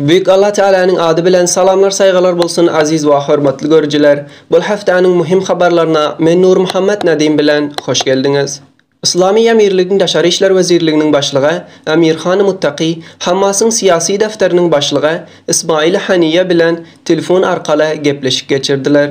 Büyük Allah Tealanyň ady bilen salamlar saýgalar bolsun aziz wa hormatly görüjiler bul haftanyň muhim habarlaryna men Nurmuhammet Nadim bilen hoş geldiňiz. Yslamy Emirligiň Daşary işler wezirliginiň başlygy Amirhan Muttaki Hamasyň syýasy däfteriniň başlygy Ismail Haniýe bilen telefon arkaly gepleşik geçirdiler.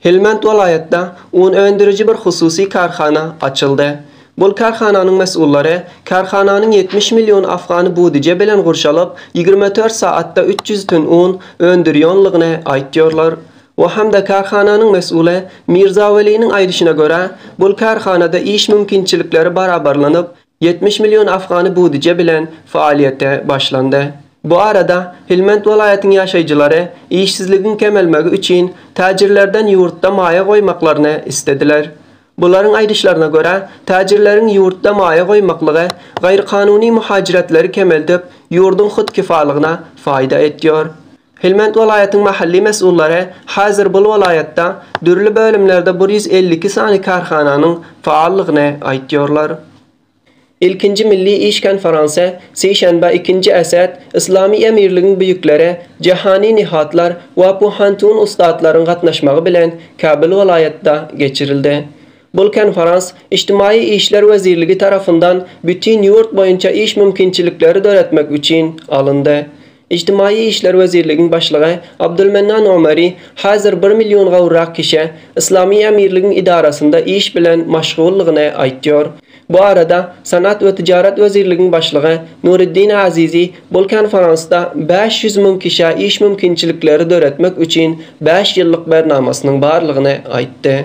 Helmand welaýatda un öndüriji bir hususy kärhana açyldy. Bul kärhananyň mesullary kärhananyň ýetmiş million afgany budije bilen gurşalyp, ýigrimi dört saatda üç ýüz tün un öndürýonlygyny aýtýarlar. O hem-de kärhananyň mesuly Mirza Weliniň aýdyşyna görä, bul kärhanada iş mümkinçilikleri barabarlanyp, Ýetmiş million afgany budije bilen faaliýete başlandy. Bu arada Helmend welaýatyň ýaşaýjylary işsizligiň kemelmegi üçin täjirlerden ýurtda maýa goýmaklaryny islediler. Bularyň aýdyşlaryna görä, täjirleriň ýurtda maýa goýmaklygy gaýrykanuny muhajiretleri kemeldip, ýurduň hut kifalygyna faýda etýär. Helmand welaýatyň mahally mesullary häzir bul welaýatda dürli bölümlerde bir ýüz elli iki sany kärhananyň faallygny aýtýarlar. Ilkinji milli iş konferansy sişenbä ikinji Esed Yslamy Emirligiň büýükleri Jahani Nihatlar we Puhantun Ussatlaryň gatnaşmagy bilen Kabul welaýatda geçirildi. Bul konferans Ijtimaýy işler wezirligi tarapyndan bütin ýurt boýunça iş mümkinçilikleri döretmek üçin alyndy. Ijtimaýy işler wezirligiň başlygy Abdulmennan Omari häzir bir million gowrak kişä Yslamy Emirligiň idarasynda iş bilen maşguldygyny aýtýar. Bu arada Senat we Tijarat wezirligiň başlygy Nuriddin Azizi bul konferansda bäş ýüz müň kişä iş mümkinçilikleri döretmek üçin bäş ýyllyk bernamasynyň barlygyny aýtdy.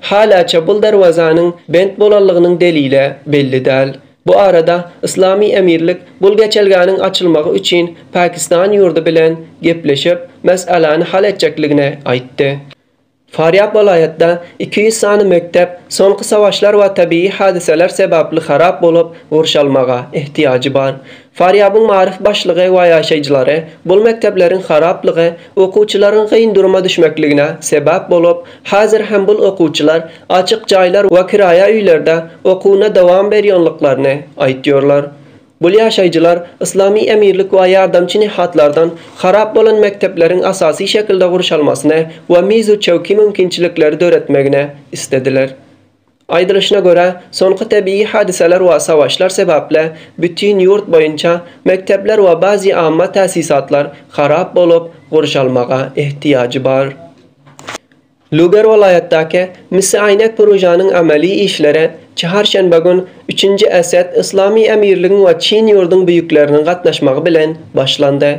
Halaça bul derwezäniň bent bolanlygynyň delile belli däl. Bu arada Yslamy Emirlik bul geçelgäniň açylmagy üçin Pakistan ýurdy bilen gepleşip, mesaläni hal etjekligini aýtdy. Farýap welaýatda iki ýüz sany mekdep soňky savaşlar we tebigy hadysalar sebäpli harap bolup gurşalmaga ehtiýajy bar. Farýabyň maryf başlygy we ýaşaýjylary bul mekdepleriň haraplygy okuwçylaryň kyn duruma düşmekligine sebäp bolup, häzir hem bul okuwçylar açyk jaýlar we kiraýa öýlerde okuwyna dowam berýonlyklaryny aýtýorlar. Bul ýaşaýjylar Yslamy emirlik we ýardamçy nehatlardan harap bolan mekdepleriň asasy şekilde gurşalmasyny we mizu çewki mümkinçilikleri döretmegini islediler. Aýdylyşyna görä, soňky tebigy hadysalar we savaşlar sebäpli bütin ýurt boýunça mekdepler we bazi amma täsisatlar harap bolup, gurşalmaga ehtiýajy bar. Luger welaýatdaky Misi Aýnek Purujanyň ameli işleri çharşenbe gün Üçünji Esed Yslamy Emirligiň we çyn ýurduň büýükleriniň gatnaşmagy bilen başlandy.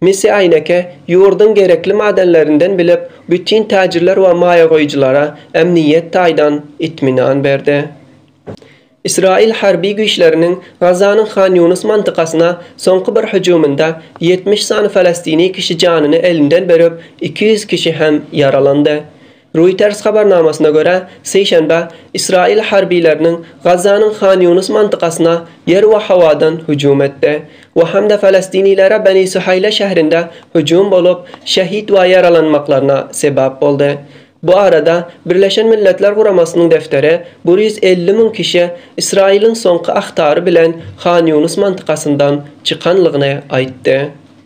Messi Aýneke ýurduň gerekli madenlerinden bilip, bütin täjirler we maýagoýujylara ämniýet taýdan itminan berdi. Ysraýyl harby güýçleriniň Gazanyň Han Ýunus mantykasyna soňky bir hüjüminde ýetmiş sany falastini kişi janyny elinden berip, iki ýüz kişi hem ýaralandy. Reuters habarnamasyna görä, sişenbe Ysraýyl harbylarynyň Gazzanyň Han Ýunus mantykasyna ýer we howadan hüjüm etdi we hem-de falestinlilere Beni Suhaýla şährinde hüjüm bolup, şehit we ýaralanmaklaryna sebäp boldy. Bu arada Birleşen Milletler Guramasynyň defteri bir ýüz elli müň kişi Ysraýylyň soňky ahtary bilen Han Ýunus mantykasyndan çykanlygyny aýtdy.